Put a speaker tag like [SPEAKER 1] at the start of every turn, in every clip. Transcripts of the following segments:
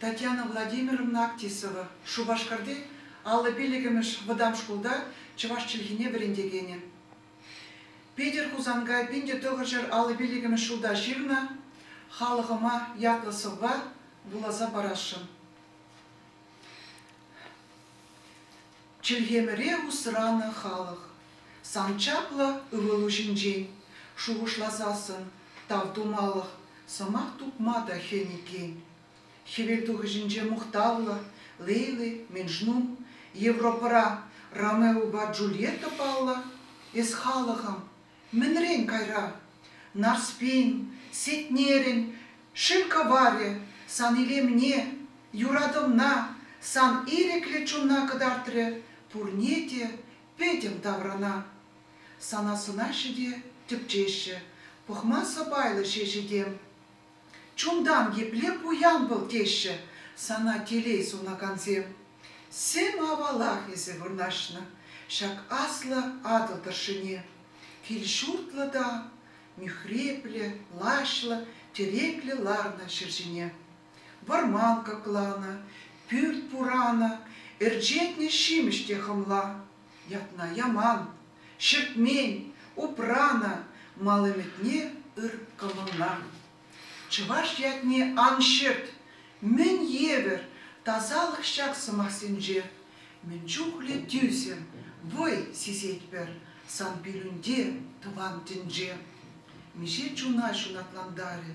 [SPEAKER 1] Татьяна Владимировна Актисова, Шупашкарти аллӑ пиллӗкӗмӗш вӑтам шкулта чӑваш чӗлхине вӗрентекенӗ. Питӗр Хусанкай пин-те тӑхӑрҫӗр аллӑ пиллӗкӗмӗш ҫулта ҫырнӑ халӑхӑма ятлӑ сӑвва вуласа парасшӑн. Чӗлхемӗре усранӑ халӑх сан чаплӑ ывӑлу ҫинчен шухӑшласассӑн тав тумалӑх сӑмах тупма та хӗн иккен. Хӗвелтухӑҫӗнче мухтавлӑ Лейли Менжнум, Европӑра Ромеопа Джульетта паллӑ эс халӑхӑм, Мӗнрен кайра? Нарспин, Сетнерӗн, шыв кӑварӗ сан илемне, юратӑвна сан ирӗклӗ чунна кӑтартрӗ, пурне те пӗтӗм таврана. Сана сӑнаҫҫӗ те тӗпчеҫҫӗ, пӑхма сӑпайлӑ ҫеҫ этем. Чунтан епле пуян вӑл теҫҫӗ сана телей сунакансем. Сӗм-авалах эсӗ вырнаҫнӑ ҫак аслӑ Атӑл тӑршшӗне. Кил-ҫуртлӑ та мӳхреплӗ, лаҫлӑ, тӗреклӗ ларнӑ ҫӗр ҫине. Вӑрман кӑкланӑ, пӳрт пуранӑ, ӗрчетнӗ ҫимӗҫ те хӑмла. Ятна яман, ҫӗкмен, упранӑ, мал ӗмӗтне ыркӑмӑллан. Чӑваш ятне ан ҫырт, мӗн евӗр тасалӑх ҫак сӑмахсенче! Мӗн чухлӗ тӳсӗм вӑй сисетпӗр сан пирӗнте, тӑван тӗнче! Миҫе чуна ҫунатлантарӗ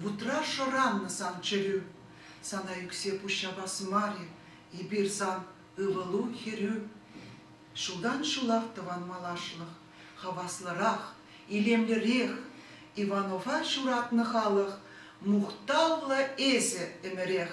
[SPEAKER 1] вутра шӑраннӑ сан чӗрӳ! Сана ӳксе пуҫ ҫапас мар-и эпир сан Ывӑлу, хӗрӳ. Ҫултан-ҫулах тӑван малашлӑх, хаваслӑрах, илемлӗрех. Иванова ҫуратнӑ халӑх, мухтавлӑ эсӗ ӗмӗрех.